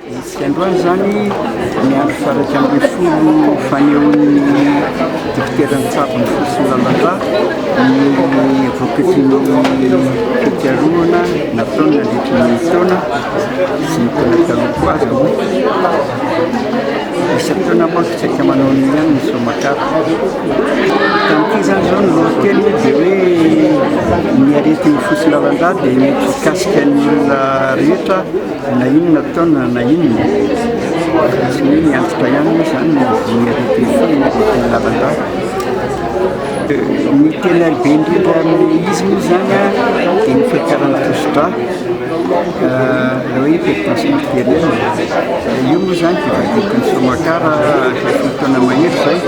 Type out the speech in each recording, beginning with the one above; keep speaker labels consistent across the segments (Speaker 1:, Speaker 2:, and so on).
Speaker 1: Amintsika androany izany, ny andro faha-iraika ambin'ny folo fanehoan'ny Dokotera Ntsabo Mifotsy Lalala ny voakatry ny fikarohana nataony nandritra ny taona sy ny taona taloha koa aza. Saika manao an'io ihany ny zoma-katy. Tamin'ity izany izao ny lolokely moa dia hoe ny aretin'ny fotsy lalan-drà dia mety hikasika ny olona rehetra na inona taona na inona. Tsy hoe ny antitra ihany moa izany ny aretin'ny fotsy lalan-drà. Ny tena be indrindra amin'ny izy moa izany dia ny fiakaran'ny tosidrà. Ilay hoe perte matériel, io moa izany dia vadiko nisaoman-kara tato taona mahery izay,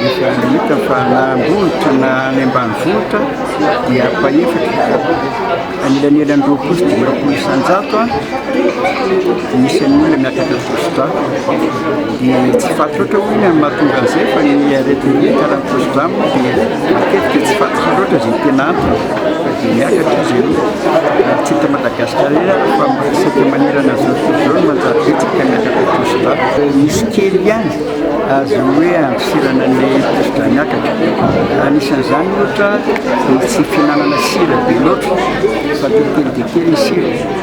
Speaker 1: efa hita fa na am-bohitra na any ambanivohitra dia ampahefatra, anelanelan'ny roapolo sy dimampolo isan-jato no isan'ny olona miakatra tosidrà. Dia tsy faty loatra hoy ny amin'ny mahatonga an'izay fa ny aretin'ny karany prostrame dia matetika tsy faty loatra izay tena antony fa dia miakatra izy io ary tsy eto Madagascar irery ary fa isaky ny manerana izao tontolo izao no manjary betsaka ny miakatra prostrame. Misy kely ihany azo hoe andosirana ny prostrame miakatra. Anisan'izany ohatra ny tsy fihinanana sira be loatra fa telo telo dia kely ny sira.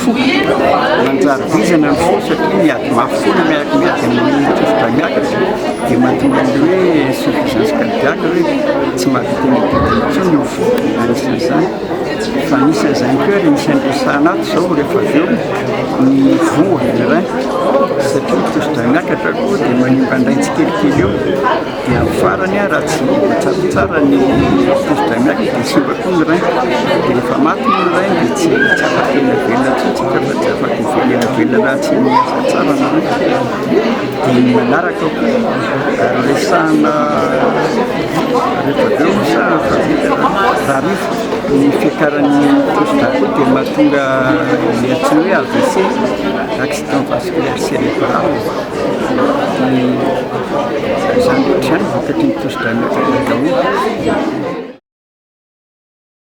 Speaker 1: Foko, manjary vizana ny fo satria miady mafy foana miaraka miady amin'ny tovotray miakatra dia mahatonga an'ilay hoe insuffisance cardiaque hoe tsy mahavita ny didy intsony ny fo anisan'izany fa anisan'izany koa ary isan'ny resahana ato izao rehefa avy eo ny voa ny rein satria ny tovotray miakatra koa dia manimba indray tsikelikely eo Dia amin'ny farany aho raha tsy hita tsaratsara ny pousse d'analy dia simba koa ny rein, dia rehefa maty moa ny rein dia tsy tsy afaka hiaina velona intsony isika fa tsy afaka hifoha hiaina velona raha tsy miasa tsara ny rein. Dia ny manaraka koa resahina rehefa avy eo moa sa efa vita raha rivotra ny fiakaran'ny pousse d'analy koa dia mahatonga ny antsoina hoe AVC, accident vasculaire cérébral. Zany ohatr'izany vokatry ny tosidranon'Antsakadaholo.